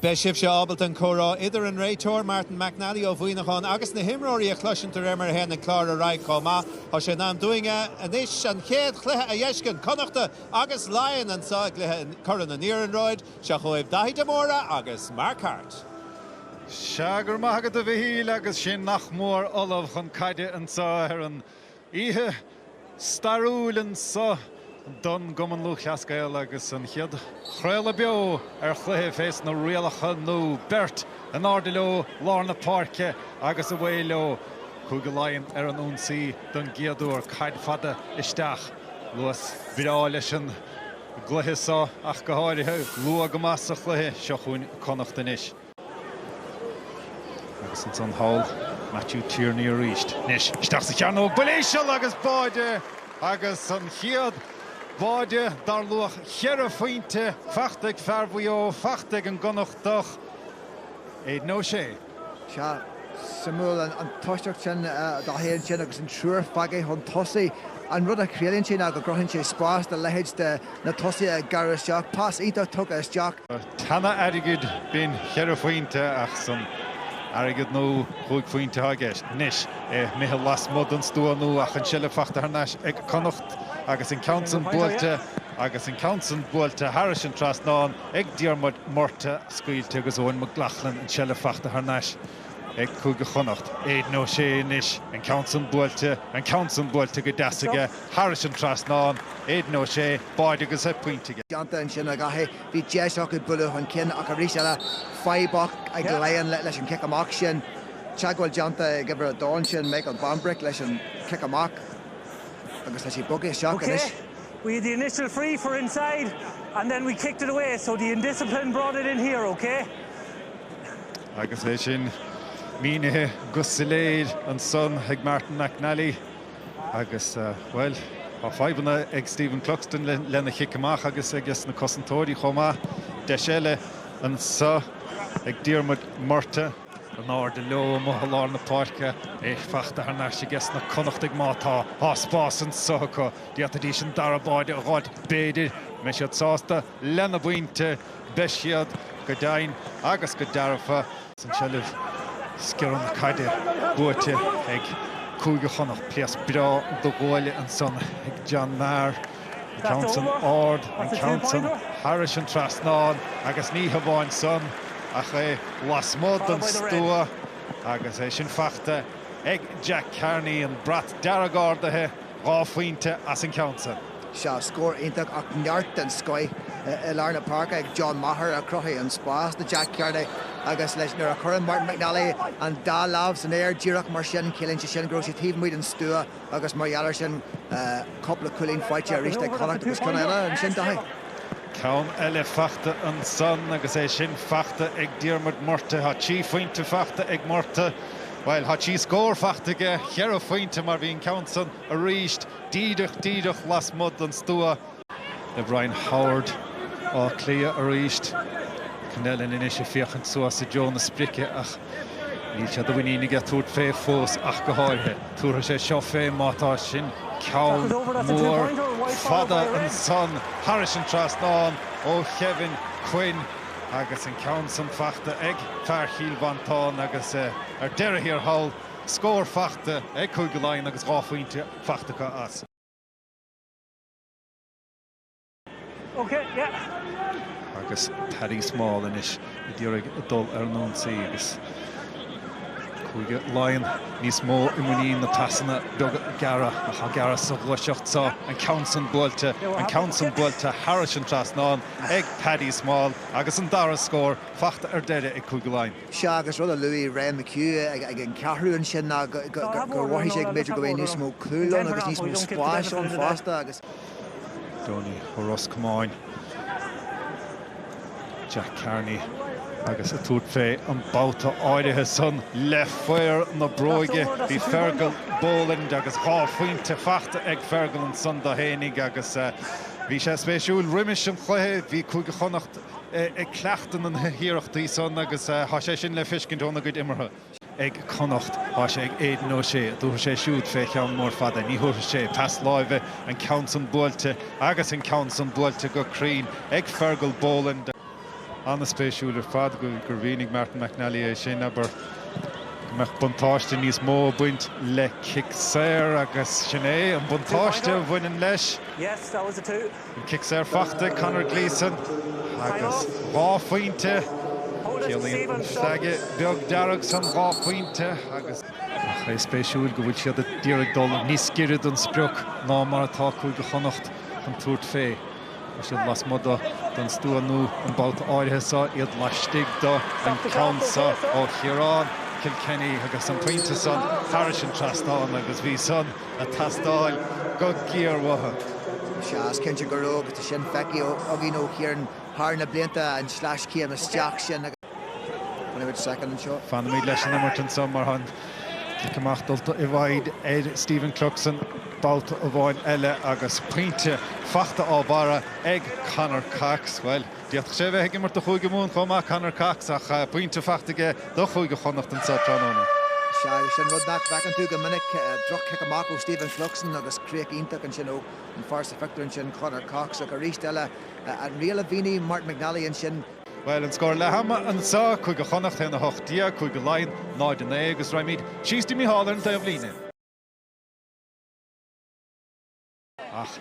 Beidh sibhse ábalta an comhrá idir an réiteoir, Martin McNally ó Mhuineachán, agus na himreoirí a chloisint de réir mar a théann an clár ar aghaidh chomh maith. Tá sé in am dúinn anois an chéad chluiche a dh'fheiscint, Connachta agus Laighin anseo i gcluiche Corn an Iarnróid. Seo chugaibh Daithí de Mórdha agus Mark Harte. Sea, go raibh maith agat a Mhichíl agus sinn nach mór ullamh chun caide anseo ar an. Oíche stairiúil anseo don gCumann Lúthchleas Gael agus an chéad chraoladh beo ar chluiche fé sna rialacha nú. Beirt in airde leo lár na páirce agus away leo. Cúige Laighean ar an ionsaí don gcéad uair. Caid fada isteach. Luas breá leis an gcluiche so ach go háirithe. Luath go maith sa chluiche. Seo chugainn Connacht anois. Agus ansan thall, Matthew Tierney arís. Anois, isteach sa chearnóg, buille íseal agus báide! Agus an chéad bháide dar luach cheithre phointe fachta ag fear Mhaigh Eo, fachta ag an gConnachtach, Aidan O'Shea. Sea, suimiúil an tosacht sin, Daithí ansin agus an triúr fágtha chun tosaigh. An rud a chiallaíonn sé ná go gcruthaíonn sé spás do leithéid de, Na tosaithe ag gearradh isteach, pas iontach tugtha isteach. Tá an-airgead, bíonn cheithre phointe ach san airgead nua chúig phointe atá i gceist. Anois é imithe lasmuigh den stua nua ach an tseilbh fachta thar n-ais ag Connacht agus an ceann san buailte agus an ceann san buailte thairis an trasnán ag Diarmuid Murtagh. Scaoilte agus Eoin McLaughlin an tseilbh fachta thar n-ais. ag Cúige Chonnacht. Aidan O'Shea anois, an ceann san buailte, an ceann san buailte go deas aige, thairis an trasnán, Aidan O'Shea, báide agus pointe aige. déanta ansin ach caithfidh. Bhí deis acu bualadh chun cinn ach arís eile fadhb acu ag Laighin leis an chic amach sin. Teagmháil déanta ag uimhir 2 ansin, Michael Bambrick leis an chic amach agus tá sé bogtha isteach anois. We had the initial free for inside and then we kicked it away so the indiscipline brought it in here, okay? Agus é sin mínithe go soiléir ansan ag Martin McNally agus, bhuel, tá fadhbanna ag Stephen Cluxton lena chic amach agus aiges na cosantóirí chomh maith. Deis eile anseo ag Diarmuid Murtagh. In airde leo amuigh i lár na páirce, é fachta thar n-ais aiges na Connachtaigh má tá. Tá spás anseo acu. D'fhéadfaidís an dara báide a dh'fháilt b'fhéidir. An mbeidh siad sásta lena bpointe? Beidh siad go deimhin agus go dearfa. An tseilbh, sciar na caide buaite ag Cúige Chonnacht. Pléasc breá do ghualainn ansan ag John Maher. An ceann san ard, an ceann san thairis an trasnán agus ní hamháin san ach é lasmuigh den stua agus é sin fachta ag Jack Carney. An brat dearg ardaithe, dhá phointe as an ceann san. Sea, scór iontach ach neart den scoith i lár na páirce ag John Maher a chruthaigh an spás do Jack Carney agus féach nuair a chuireann Martin McNally an dá lámh san aer díreach mar sin ciallaíonn sé sin go raibh sé taobh amuigh den stua agus mar gheall air sin cúpla cúilín faighte aríst ag Connacht agus ceann eile ansin, Daithí? Ceann eile fachta ansan agus é sin fachta ag Diarmuid Murtagh. Tá trí phointe fachta ag Murtagh, bhuel tá trí scór fachta aige, cheithre phointe mar bhí an ceann san arís. Díreach, díreach lasmuigh den stua. Le Brian Howard, Áth Cliath arís. Con O'Callaghan anois ag féachaint suas i dtreo na sprice ach níl sé de mhuinín aige tabhairt fé fós ach go háirithe. Tabharfaidh sé seo fé má tá sin ceann mór fada ansan. Thairis an trasnán ó Kevin Quinn agus an ceann san fachta ag fear Chill Mhantáin agus ar deireadh thiar thall. scór fachta ag Cúige Laighean agus dhá phointe fachta acu as. Agus Paddy Small anois ag iarraidh dul ar an ionsaí agus Cúige Laighean níos mó i muinín na pasanna beaga gearra atá á ngearradh sa ghluaiseacht seo, an ceann san buailte, an ceann san buailte thairis an trasnán ag Paddy Small agus an dara scór fachta ar deireadh ag Cúige Laighean. Sea, agus rud a luaigh Ryan McHugh ag an cheathrú ansin ná go bhfaighidh sé go mb'fhéidir go mbeidh níos mó cúl ann agus níos mó spáis ann fosta agus, Donie ó Ros Comáin, Jack Carney agus ag tabhairt fé an babhta áirithe san le fear na bróige, buí Fergal Boland agus dhá phointe fachta ag Fergal ansan do fhéinig agus bhí sé spéisiúil roimis an chluiche, bhí Cúige Chonnacht ag cleachtadh na h-iarrachtaí san agus tá sé sin le feiscint óna gcuid imeartha. ag Connacht. Tá sé ag Aidan O'Shea. Tabharfaidh sé siúd fé cheann mór fada, ní thabharfaidh sé pas láimhe, an ceann san buailte agus an ceann san buailte go cruinn ag Fergal Boland. An-spéisiúil ar fad gur mhínigh Martin McNally é sin, abair, go mbeadh buntáiste níos mó ag baint le cic saor agus sin é an buntáiste a bhaineann leis. An cic saor fachta ag Conor Gleeson agus dhá phointe. Ciallaíonn an flag beag dearg san dhá phointe agus. Ach é spéisiúil go bhfuil siad ag iarraidh dul níos giorra don sprioc ná mar atá Cúige Chonnacht chun tabhairt fé. Tá siad lasmuigh do don stua nó an babhta áirithe seo, iad laistigh do an ceann seo ó Chiarán Kilkenny agus an pointe san thairis an trasnán agus bhí san. a thastáil go giar-mhaith. Tá sé cinnte go leor agus tá sin feicthe againn ó Chiarán thar na blianta, an sleais céanna isteach sin agus fanfaimid soicind anseo. Fanfaimid leis an imirt anseo mar tá an cic amach dulta i bhfeidhm ar Stephen Cluxton babhta amháin eile agus pointe fachta á bharra ag Conor Cox. Bhuel. D'fhéadfadh sé a bheith ag imirt do Chúige Mumhan chomh maith, Conor Cox, ach pointe fachta aige do Chúige Chonnacht anseo tráthnóna. Is é sin rud nach bhfeiceann tú go minic, droch-chic amach ó Stephen Cluxton agus críoch iontach ansin ó an fear sa phictiúr ansin, Conor Cox, ach arís eile, an riail a mhínigh Martin McNally ansin. Bhuel, an scór leath ama anseo, Cúige Chonnacht 1, 18, Cúige Laighean 0, 9, agus raghaimid síos dtí Micheál ar an taobhlíne. Ach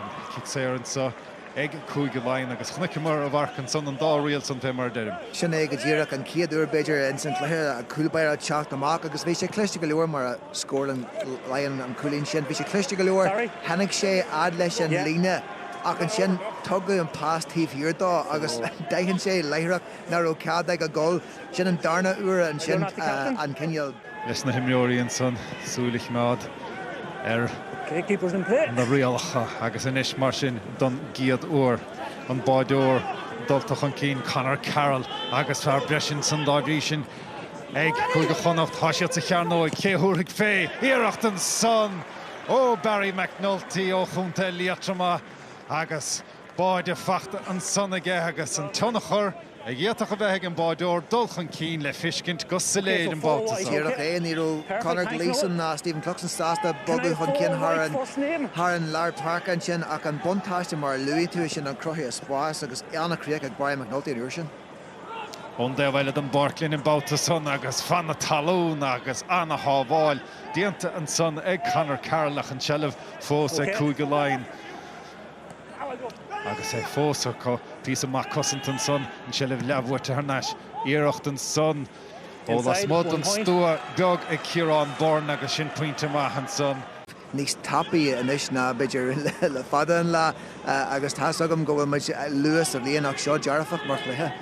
an cic saor anseo ag Cúige Laighean agus chonaiceamar a mharc ansan, an dá riail san fé mar a deirim. Sin é go díreach, an chéad uair b'fhéidir insan chluiche an cúl báire ag teacht amach agus bhí sé cliste go leor mar a scóráil Laighin an cúilín sin, bhí sé cliste go leor, tháinig sé fhad leis an líne ach ansin tugadh an pas taobh thiar dó agus d'aithin sé láithreach ná raibh cead aige dul. Sin an darna uair ansin an cineál. leis na himreoirí ansan súil a choimeád ar na rialacha agus anois mar sin don gcéad uair an báideoir dulta chun cinn, Conor Carroll agus fear breis ansan dá bhrí sin ag Cúige Chonnacht. Tá siad sa chearnóig. Cé a thabharfaidh faoi? Iarracht ansan ó Barry McNulty ó chontae Liatroma agus. báide fachta ansan aige agus an tionchar a d'fhéadfadh a bheith ag an báideoir dul chun cinn le feiscint go soiléir an babhta seo. Díreach é, ní raibh Conor Gleeson ná Stephen Cluxton sásta bogadh chun cinn thar an lár páirce ansin ach an buntáiste mar a luaigh tú, sin ansin cruthaíodh spás agus an-chríoch ag Barry McNulty an uair sin. Ón dtaobh eile den bpáirc linn an babhta san agus fan na talún agus an-shábháil déanta ansan ag Conor Carroll ach an tseilbh fós ag Cúige Laighean. Agus é fós acu, píosa maith cosanta ansan, an tseilbh leathbhuaite thar n-ais, iarracht ansan ó lasmuigh den stua beag ag Ciarán Byrne agus sin pointe maith ansan. níos tapaí anois ná b'fhéidir le fada an lá agus tá's agam go bhfuil muid luath sa bhliain ach seo dearfach mar chluiche.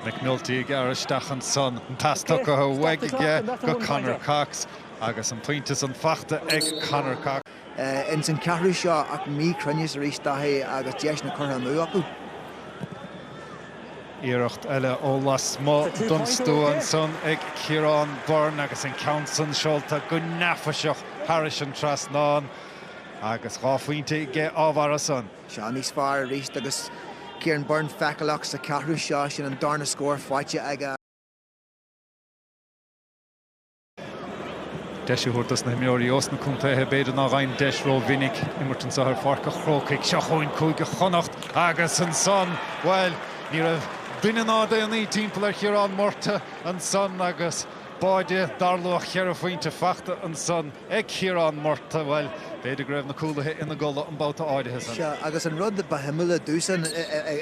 McNulty ag gearradh isteach ansan, an pas tugtha uaidh aige go Conor Cox agus an pointe san fachta ag Conor Cox. ins an ceathrú seo ach míchruinneas arís Daithí agus deiseanna curtha amú acu. Iarracht eile ó lasmuigh don stua ansan ag Ciarán Byrne agus an ceann san seolta go neafaiseach thar an trasnán agus dhá phointe aige á bharra san. Seo níos fearr arís agus Ciarán Byrne feiceálach sa cheathrú seo, sin an darna scór faighte aige. Deis a thabhairt dos na himreoirí ós na contaetha, b'fhéidir, nach fhaigheann deis rómhinic imirt anseo ar Pháirc an Chrócaigh. Seo chugainn Cúige Chonnacht agus ansan, bhuel, ní raibh duine ná daonnaí timpeall ar Chiarán Murtagh ansan agus báide, dar luach cheithre phointe fachta ansan ag Ciarán Murtagh. Bhuel, b'fhéidir go raibh na cúlaithe ina gcodladh an babhta áirithe san. Sea, agus an rud ba shuimiúla domsa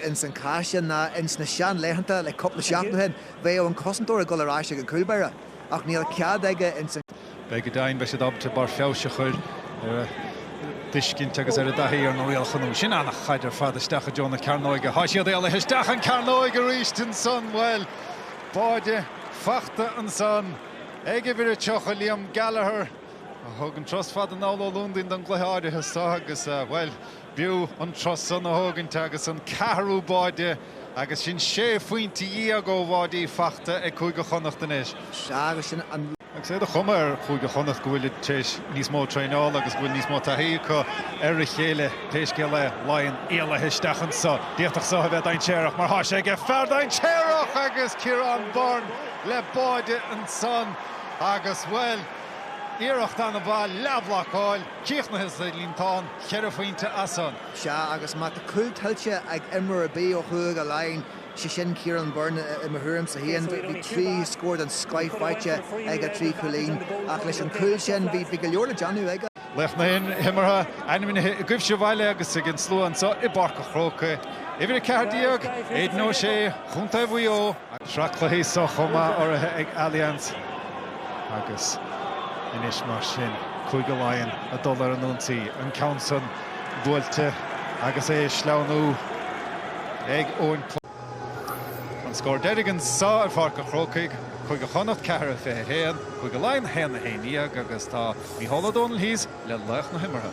ins an cás sin ná ins na seanlaethanta le cúpla seachtain ó shin, bheadh an cosantóir ag dul ar ais ag an cúlbáire. ach níl cead aige ins an. Beidh go deimhin, beidh siad ábalta barr feabhais a chur ar a dtuiscint agus ar a dtaithí ar na rialacha nua sin. An chaid ar fad isteach i dtreo na cearnóige. Tá siad éalaithe isteach an cearnóig arís ansan. Bhuel, báide fachta ansan ag uimhir a 30, Liam Gallagher, a thug an turas fada anall ó Londain don gcluiche áirithe seo agus, bhuel, B'fhiú an turas san a thógaint agus an ceathrú báide agus sin sé phointe dhéag ó bháidí fachta ag Cúige Chonnacht anois. Sea agus sin an. Agus é de chuma ar Chúige Chonnacht go bhfuilid tar éis níos mó traenála agus go bhfuil níos mó taithí acu ar a chéile, pé scéal é, Laighin éalaithe isteach anso. D'fhéadfadh so a bheith dainséarach mar tá sé aige fear dainséarach agus Ciarán Byrne le báide ansan agus, bhuel, iarracht ana mhaith leathbhlocáil. Críochnaithe sa líontán ceithre phointe as an. Sea agus má tá cúl tuillte ag imreoir ar bith ó Chúige Laighin, sé sin Ciarán Byrne, i mo thuairimse féin, bhí trí scór den scoith faighte aige trí chúilín ach leis an gcúl sin bhí go leor le déanamh aige. Laoch na himeartha ainmnithe agaibh sa bhaile agus ag an slua anseo i bPáirc an Chrócaigh, Uimhir 14, Aidan O'Shea, ó Chontae Mhaigh Eo. An tsraith cluichí seo chomh maith urraithe ag Allianz agus anois mar sin Cúige Laighean ag dul ar an ionsaí. An ceann san buailte agus é ag sleamhnú anonn. An scór deiridh anseo ar Pháirc an Chrócaigh, Cúige Chonnacht 4 21, Cúige Laighean 1 11 agus tá Micheál Ó Domhnaill thíos le laoch na himeartha.